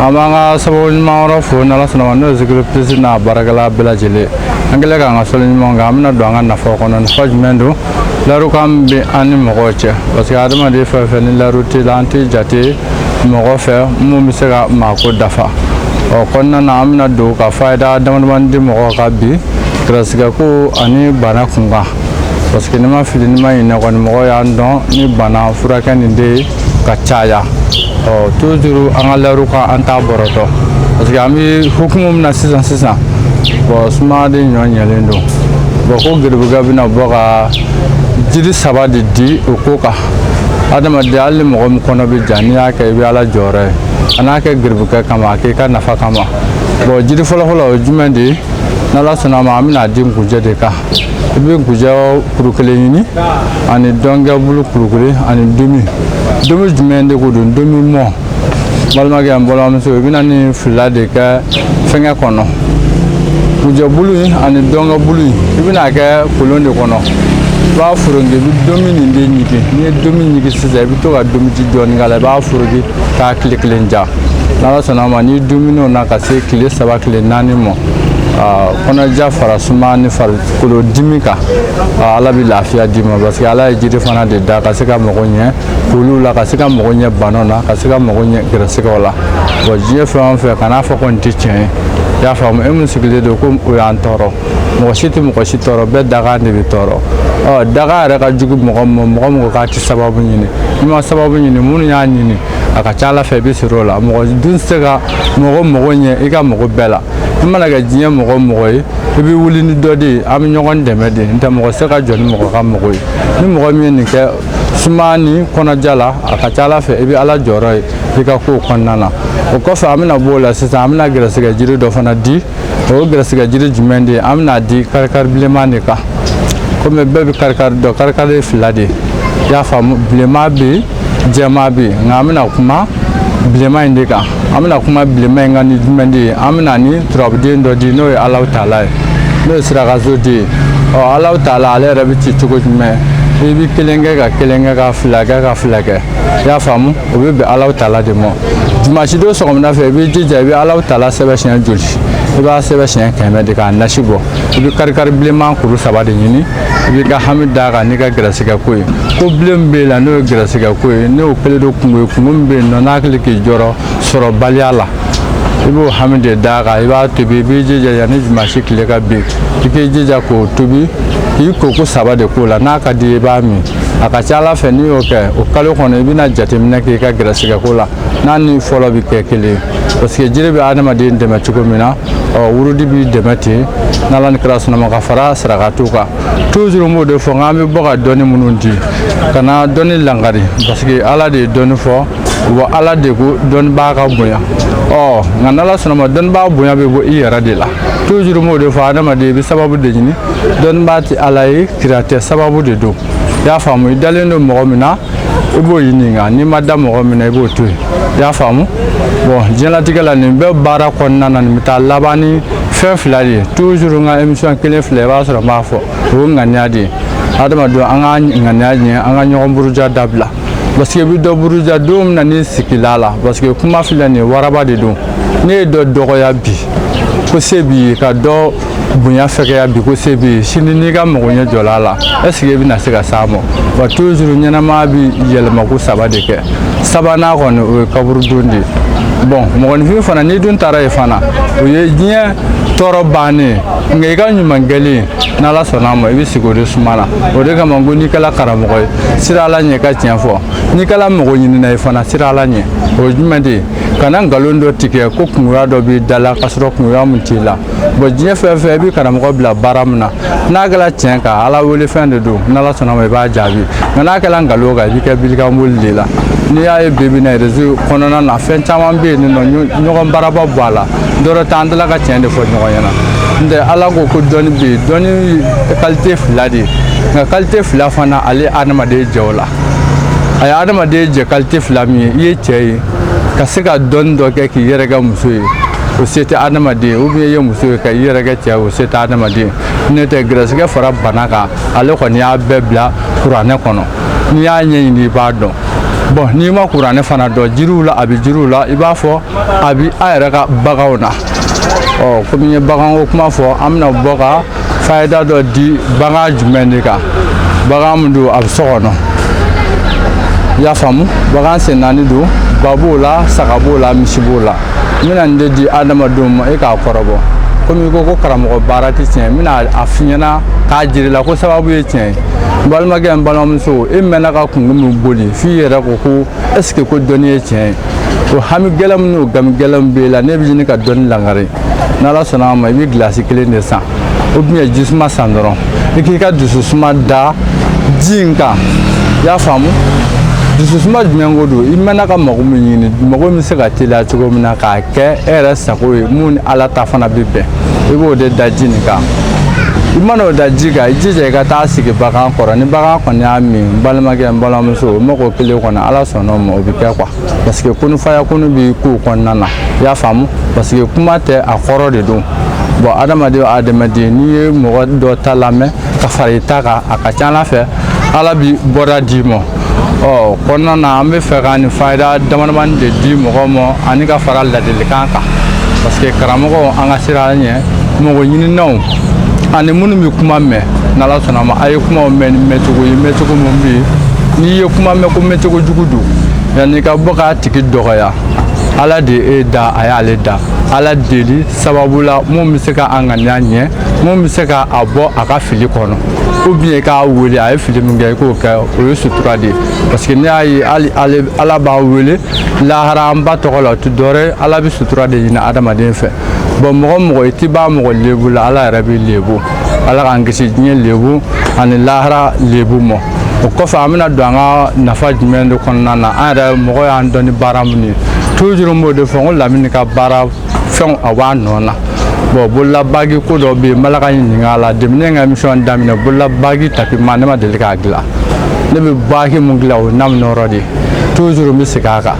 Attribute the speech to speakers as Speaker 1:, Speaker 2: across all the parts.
Speaker 1: an b'an ka sababu ɲuman wɛrɛ fo n'ala sɔnna a ma n'o ye zikiri plus n'a baarakɛla bɛɛ lajɛlen an kɛlen k'an ka sɔli ɲuman kɛ an bɛna don an ka nafaw kɔnɔ nafa jumɛn don layirukan min bɛ an ni mɔgɔw cɛ parce que adamaden fɛn fɛn ni layiru t'i la an tɛ jate mɔgɔ fɛ mun bɛ se ka maako dafa ɔ kɔnɔna na an bɛna don ka fayida damadamani di mɔgɔw ka bi garisigɛko ani bana kunkan parce que n'i ma fili n'i ma ɲinɛ kɔni mɔgɔw y'an dɔn ni bana furakɛ nin de ye ka caya ɔ toujours an ka layiru kan an t'a bɔrɔtɔ parce que an bɛ hukumu min na sisan sisan bon suma de ɲɔ ɲɛlen don bon ko geribukɛ bɛna bɔ ka jiri saba de di o ko kan adamaden hali ni mɔgɔ min kɔnɔ bɛ ja n'i y'a kɛ i bɛ ala jɔyɔrɔ ye a kana kɛ geribukɛ kama a k'i ka nafa kama bon jiri fɔlɔfɔlɔ o ye jumɛn de ye n'ala sɔnna a ma an bɛna di nkunjɛ de kan i bɛ nkunjɛ kuru kelen ɲini ani ntɔnkɛbulu kuru kelen ani ntomi ntomi jumɛn de ko don ntomi mɔ balimakɛ an balimamuso i bɛna nin fila de kɛ fɛngɛ kɔnɔ nkunjɛbulu in ani ntɔnkɛbulu in i bɛna kɛ kolon de kɔnɔ i b'a foroki i bɛ ntomi nin de ɲigi n'i ye ntomi ɲigi sisan i bɛ to ka ntomiji dɔɔni k'a la i b'a foroki k'a tile kelen ja n'ala sɔnna a ma n'i dumin'o na ka se tile saba tile naani ma kɔnɔja fara suma ni farikolo dimi kan ala bɛ lafiya d'i ma parce que ala ye jiri fana de da ka se ka mago ɲɛ kolu la ka se ka mago ɲɛ bana na ka se ka mago ɲɛ gɛrɛsɛgɛw la bon diɲɛ fɛn o fɛn kana fɔ ko nin tɛ tiɲɛ ye i y'a faamu e min sigilen don ko o y'an tɔɔrɔ mɔgɔ si tɛ mɔgɔ si tɔɔrɔ bɛɛ dakan de b'i tɔɔrɔ ɔ dakan yɛrɛ ka jugu mɔgɔ ma mɔgɔ mɔgɔ k'a tɛ sababu ɲini n'i ma sababu ɲini minnu y'a ɲini a ka ca ala fɛ i bɛ sɔrɔ o la mɔgɔ dun tɛ se ka mɔgɔ mago ɲɛ i ka mago bɛɛ la i mana kɛ diɲɛ mɔgɔ mɔgɔ ye i bɛ wuli ni dɔ de ye an bɛ ɲɔgɔn dɛmɛ de nɔntɛ mɔgɔ tɛ se ka jɔ ni mɔgɔ ka mago ye ni mɔgɔ min ye nin kɛ suma ni kɔnɔja la a ka ca ala fɛ i bɛ ala jɔyɔrɔ ye i ka kow kɔnɔna na o kɔfɛ an bɛna bɔ o la sisan an bɛna gɛrɛsɛgɛ jiri dɔ fana di o ye gɛrɛsɛgɛ jiri jumɛn de ye an bɛna di karikari bilenman de kan komi bɛɛ bɛ karikari dɔn karikari ye fila de ye i y'a faamu bilenman bɛ yen jɛman bɛ yen nka an bɛna kuma bilenman in de kan an bɛna kuma bilenman in kan ni jumɛn de ye an bɛna ni turabuden dɔ di n'o ye alaw taala ye n'o ye sira ka so de ye ɔ alaw taala ale yɛrɛ bɛ ci cogo jumɛn i bɛ kelen kɛ ka kelen kɛ ka fila kɛ ka fila kɛ i y'a faamu o bɛ bɛn alaw taala de ma dimansi don sɔgɔmada fɛ i b'i jija i bɛ alaw taala sɛbɛn siɲɛ joli i b'a sɛbɛn siɲɛ kɛmɛ de k'a nasi bɔ i bɛ karikari bilenman kuru saba de ɲini i b'i ka hami d'a kan n'i ka gɛrɛsɛgɛ ko ye ko bilen bɛ la n'o ye gɛrɛsɛgɛ ko ye n'o kɛlen don kungo ye kungo min bɛ yen nɔ n'a hakili k'i jɔrɔ sɔrɔbaliya la i b'o hami de d'a kan i b'a tobi i b'i jija yanni dimansi tile ka bin i k'i jija k'o tobi k'i ko ko saba de k'o la n'a ka di i b'a min a ka ca ala fɛ n'i y'o kɛ o kalo kɔnɔ i bɛna jateminɛ k'i ka gɛrɛsɛgɛ ko la n'a ni fɔlɔ bɛ kɛ kelen ye parce que jiri bɛ adamaden dɛmɛ cogo min na ɔ wurudi b'i dɛmɛ ten n'ala ni kira sɔnna a ma ka fara sarakatu kan toujours n b'o de fɔ n k'an bɛ bɔ ka dɔnni minnu di kana dɔnni langari parce que ala de ye dɔnni fɔ wa ala de ko dɔnbaa ka bonya ɔ nka n'ala sɔnna a ma dɔnbaa bonya bɛ bɔ i yɛrɛ de la toujours n b'o de fɔ adamaden i bɛ sababu de ɲini dɔnbaa tɛ ala ye kira tɛ sababu de don i y'a faamu i dalen don mɔgɔ min na i b'o ɲininka n'i ma da mɔgɔ min na i b'o to yen i y'a faamu bon diɲɛlatigɛ la nin bɛɛ baara kɔnɔna na nin bɛ taa laban ni fɛn fila de ye toujours n ka emisiyɔn kelen fila i b'a sɔrɔ n b'a fɔ o ye ŋaniya de ye adamadenw an ka ŋaniya ɲɛ an ka ɲɔgɔn buruja dabila parce que i bɛ dɔ buruja don min na n'i sigila la parce que kuma filɛ nin ye waraba de don n'e ye dɔ dɔgɔya bi ko se b'i ye ka dɔ bonya fɛgɛya bi ko se bɛ sini n'i ka mago ɲɛ jɔla a la est-ce que i bɛna se ka s'a ma wa toujours ɲɛnama bɛ yɛlɛma ko saba de kɛ sabanan kɔni o ye kaburu don de ye bon mɔgɔninfin fana n'i dun taara yen fana o ye diɲɛ tɔɔrɔ bannen nka i ka ɲuman kɛlen n'ala sɔnna a ma i bɛ sigi o de suma na o de kama ko n'i kɛla karamɔgɔ ye siran ala ɲɛ ka tiɲɛ fɔ n'i kɛla mago ɲinina ye fana siran ala ɲɛ o ye jumɛn de ye kana nkalon dɔ tigɛ ko kungoya dɔ b'i da la k'a sɔrɔ kungoya min t'i la bon diɲɛ fɛn fɛn i bɛ karamɔgɔ bila baara min na n'a kɛra tiɲɛ kan ala wele fɛn de don n'ala sɔnna ma i b'a jaabi nka n'a kɛra nkalon kan i bɛ kɛ bilikanboli de la n'i y'a ye bi bi in na rezo kɔnɔna na fɛn caman bɛ yen nin nɔ ɲɔgɔn baaraba bɔ a la dɔrɔ t'an dala ka tiɲɛ de fɔ ɲɔgɔn ɲɛna n tɛ ala ko ko dɔnni bɛ yen dɔnni kalite fila de ye nka kalite fila fana ale adamaden jɛ o la a ye adamaden jɛ kalite fila min ye i ye cɛ ye ka se ka dɔnni dɔ kɛ k'i yɛrɛ kɛ muso ye o se tɛ adamaden ou bien i ye muso ye ka i yɛrɛ kɛ cɛ o se tɛ adamaden n'o tɛ gɛrɛsɛgɛ fara bana kan ale kɔni y'a bɛɛ bila kuranɛ kɔnɔ n'i y'a ɲɛɲini i b'a dɔn bon n'i ma kuranɛ fana dɔn jiriw la a bɛ jiriw la i b'a fɔ a bɛ a yɛrɛ ka baganw na ɔ komi n ye baganko kuma fɔ an bɛna bɔ ka fayida dɔ di bagan jumɛn de kan bagan min don a bɛ so kɔnɔ i y'a faamu bagan sen naani don ba b'o la saga b'o la misi b'o la n bɛna nin de di adamadenw ma e k'a kɔrɔbɔ komi i ko ko karamɔgɔ baara tɛ tiɲɛ n bɛna a f'i ɲɛna k'a jira i la ko sababu ye tiɲɛ ye n balimakɛ n balimamuso e mɛnna ka kungo min boli f'i yɛrɛ ko ko est ce que ko dɔnni ye tiɲɛ ye o hami gɛlɛn min n'o gami gɛlɛn min b'e la ne bɛ ɲini ka dɔnni langari n'ala sɔnna a ma i bɛ gilasi kelen de san ou bien jisuma san dɔrɔn i k'i ka dususuma da ji in kan i y'a faamu dususuma jumɛn ko don i mɛnna ka mago min ɲini mago min bɛ se ka teliya cogo min na k'a kɛ e yɛrɛ sago ye mun ni ala ta fana bɛ bɛn i b'o de da ji nin kan i mana o da ji kan i jija i ka taa sigi bagan kɔrɔ ni bagan kɔni y'a min n balimakɛ n balimamuso o mago kelen kɔni ala sɔnna o ma o bɛ kɛ quoi parce que kunufaya kunu bɛ kow kɔnɔna na i y'a faamu parce que kuma tɛ a kɔrɔ de don bon adamaden o adamaden n'i ye mɔgɔ dɔ ta lamɛn ka fara i ta kan a ka ca ala fɛ ala bi bɔda d'i ma o kɔnɔna na an bɛ fɛ ka nin fayida damadamani de di mɔgɔw ma ani ka fara ladilikan kan parce que karamɔgɔw an ka sira ɲɛ mɔgɔ ɲininaw ani minnu bɛ kuma mɛn n'ala sɔnna a ma a ye kumaw mɛn ni mɛncogo ye mɛncogo min bɛ yen n'i ye kuma mɛn ko mɛncogo jugu don yanni i ka bɔ k'a tigi dɔgɔya ala de ye e da a y'ale da ala deli sababu la mun bɛ se ka a ŋaniya ɲɛ mun bɛ se ka a bɔ a ka fili kɔnɔ ou bien k'a wele a ye fili min kɛ i k'o kɛ o ye sutura de ye parce que ne y'a ye hali ale ala b'a wele lahara an ba tɔgɔ la o tɛ dɔwɛrɛ ye ala bɛ sutura de ɲini adamaden fɛ bon mɔgɔ mɔgɔ i t'i ban mɔgɔ lebu la ala yɛrɛ b'i lebu ala k'an kisi diɲɛ lebu ani lahara lebu mɔ o kɔfɛ an bɛna don an ka nafa jumɛn de kɔnɔna na an yɛrɛ mɔgɔ y'an dɔn ni baara minnu ye toujours n b'o de fɔ n ko lamini ka baara fɛnw a b'a nɔ na bon bololabagi ko dɔ bɛ yen n bala ka ɲininka a la depuis ne ka émission daminɛ bololabagi tapima ne ma deli k'a dilan ne bɛ bagi mun dilan o ye namunɔrɔ de ye toujours n bɛ segin a kan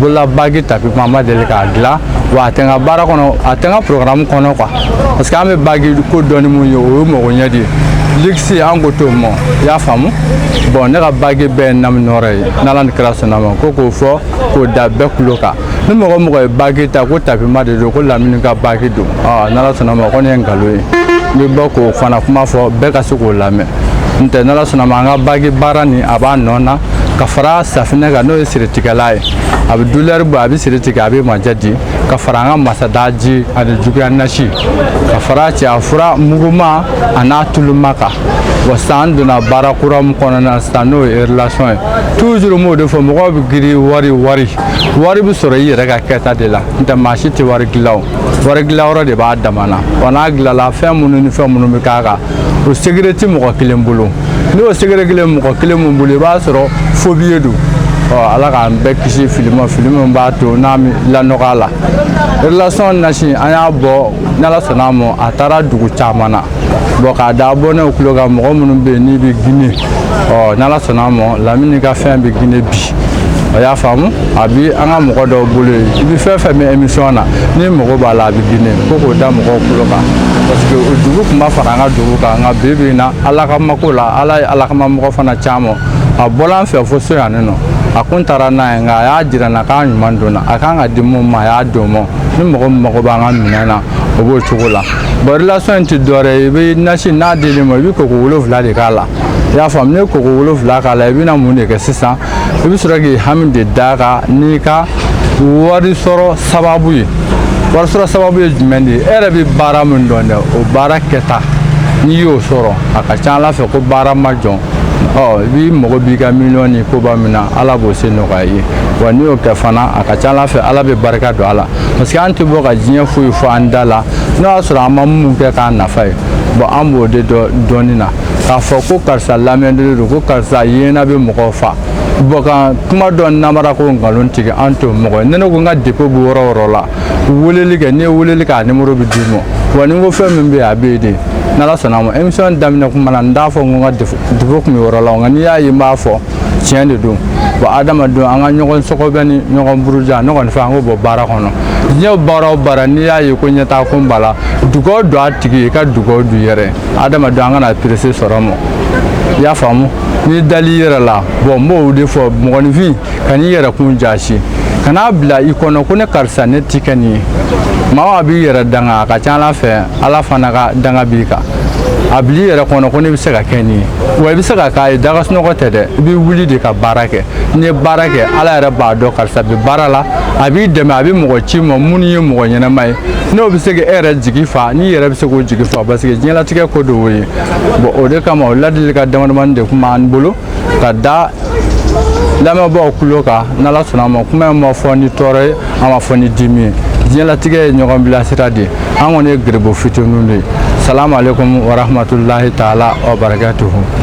Speaker 1: bololabagi tapima n ma deli k'a dilan wa a tɛ n ka baara kɔnɔ a tɛ n ka programme kɔnɔ quoi parce que an bɛ bagi ko dɔn ni mun ye o ye mago ɲɛ de ye luxe an ko t'o mɔ i y'a faamu bon ne ka bagi bɛɛ ye namunɔrɔ ye n'ala ni kira sɔnna a ma ko k'o fɔ k'o da bɛɛ kulo kan ni mɔgɔ mɔgɔ ye bagi ta ko tapima de don ko lamini ka bagi don ah, n'ala sɔnna a ma ko ne ye nkalon ye n bɛ bɔ k'o fana kuma fɔ bɛɛ ka se k'o lamɛn n tɛ n'ala sɔnna a ma an ka bagi baara nin a b'a nɔ na ka fara safinɛ kan n'o ye siritigɛla ye a bɛ douleur bɔ a bɛ siri tigɛ a bɛ majɛ di ka fara an ka masada ji ani juguya nasi ka fara cɛya fura muguma a n'a tuluma kan wa sisan an donna baara kura min kɔnɔna na sisan n'o ye relation ye toujours n b'o de fɔ mɔgɔw bɛ girin wari wari wari bɛ sɔrɔ i yɛrɛ ka kɛta de la n'o tɛ maa si tɛ wari dilan o wari dilanyɔrɔ de b'a dama na wa n'a dilanla fɛn minnu ni fɛn minnu bɛ k'a kan o secret tɛ mɔgɔ kelen bolo n'o secret kelen mɔgɔ kelen min bolo i b'a sɔrɔ faux billet don ɔ ala k'an bɛɛ kisi fili ma fili min b'a to n'a lanɔgɔya la relation nasi an y'a bɔ n'ala sɔnna a ma a taara dugu caman na bon k'a da bɔ ne kulo kan mɔgɔ minnu bɛ yen n'i bɛ gine ɔ n'ala sɔnna a ma lamini ka fɛn bɛ gine bi a y'a faamu a bi an ka mɔgɔ dɔw bolo yen i bɛ fɛn fɛn mɛn émission na n'i mago b'a la a bɛ Guinée ko k'o da mɔgɔw tulo kan parce que o dugu tun b'a fara an ka dugu kan nka bi bi in na ala ka mako la ala ye ala kama mɔgɔ fana caman a bɔla an fɛ fo so yan nɔ a kun taara n'a ye nka a y'a jira n na k'a ɲuman donna a kan ka di mun ma a y'a don mɔ ni mɔgɔ min mago b'an ka minɛn na o b'o cogo la bon relation in tɛ dɔwɛrɛ ye i bɛ nasi n'a dil'i ma i bɛ koko wolonwula de k'a la i y'a faamu n'i ye koko wolonwula k'a la i bɛna mun de kɛ sisan i bɛ sɔrɔ k'i hami de d'a kan n'i ka wari sɔrɔ sababu ye wari sɔrɔ sababu ye jumɛn de ye e yɛrɛ bɛ baara min dɔn dɛ o baara kɛta n'i y'o sɔrɔ a ka ca ala fɛ ko baara ma jɔ ɔ i b'i mago b'i ka miliyɔn ni koba min na ala b'o se nɔgɔya i ye wa n'i y'o kɛ fana a ka ca ala fɛ ala bɛ barika don a la parce que an tɛ bɔ ka diɲɛ foyi fɔ an da la n'o y'a sɔrɔ an ma min kɛ k'a nafa ye bon an b'o de dɔn dɔɔnin na k'a fɔ ko karisa lamɛnnen don ko karisa yena bɛ mɔgɔw fa bon ka kuma dɔ namara ko nkalon tigɛ an t'o mɔgɔ ye ne ko n ka dépôt bɛ yɔrɔ o yɔrɔ la weleli kɛ n'i ye weleli kɛ a numéro bɛ d'i ma wa ni n ko fɛn min bɛ yen a bɛ yen de n'ala sɔnna a ma émission daminɛ kuma na n t'a fɔ n ko n ka dépôt kun bɛ yɔrɔ la nka n'i y'a ye n b'a fɔ tiɲɛ de don bon adamadenw an ka ɲɔgɔn sɔgɔbɛ ni ɲɔgɔn buruja ne kɔni fɛ an k'o bɔ baara kɔnɔ diɲɛ baara o baara n'i y'a ye ko ɲɛtaa kun b'a la dugawu don a tigi ye ka dugawu don i yɛrɛ adamadenw an kana perese sɔrɔ ma i y'a faamu n'i dal'i yɛrɛ la bon n b'o de fɔ mɔgɔninfin kan'i yɛrɛ kun jaasi kan'a bila i kɔnɔ ko ne karisa ne ti kɛ nin ye maa a b'i yɛrɛ danga a ka ca ala fɛ ala fana ka danga b'i kan a bil'i yɛrɛ kɔnɔ ko ne bɛ se ka kɛ nin ye wa i bɛ se ka k'a ye da ka sunɔgɔ tɛ dɛ i bɛ wuli de ka baara kɛ n'i ye baara kɛ ala yɛrɛ b'a dɔn karisa bɛ baara la a b'i dɛmɛ a bɛ mɔgɔ c'i ma minnu ye mɔgɔ ɲɛnama ye n'o bɛ se ka e yɛrɛ jigi fa n'i yɛrɛ bɛ se k'o jigi fa parce que diɲɛlatigɛ ko don o ye bon o de kama o ladilikan damadamanin de kun b'an bolo ka da lamɛnbaaw tulo kan n'ala sɔnna a ma kuma in ma fɔ ni tɔɔrɔ ye an m'a fɔ ni dimi ye diɲɛlatigɛ ye ɲɔgɔn bilasira de ye an kɔni ye garibu fitininw de ye salamu aleykum warahmatulahi taala wabarakatuhu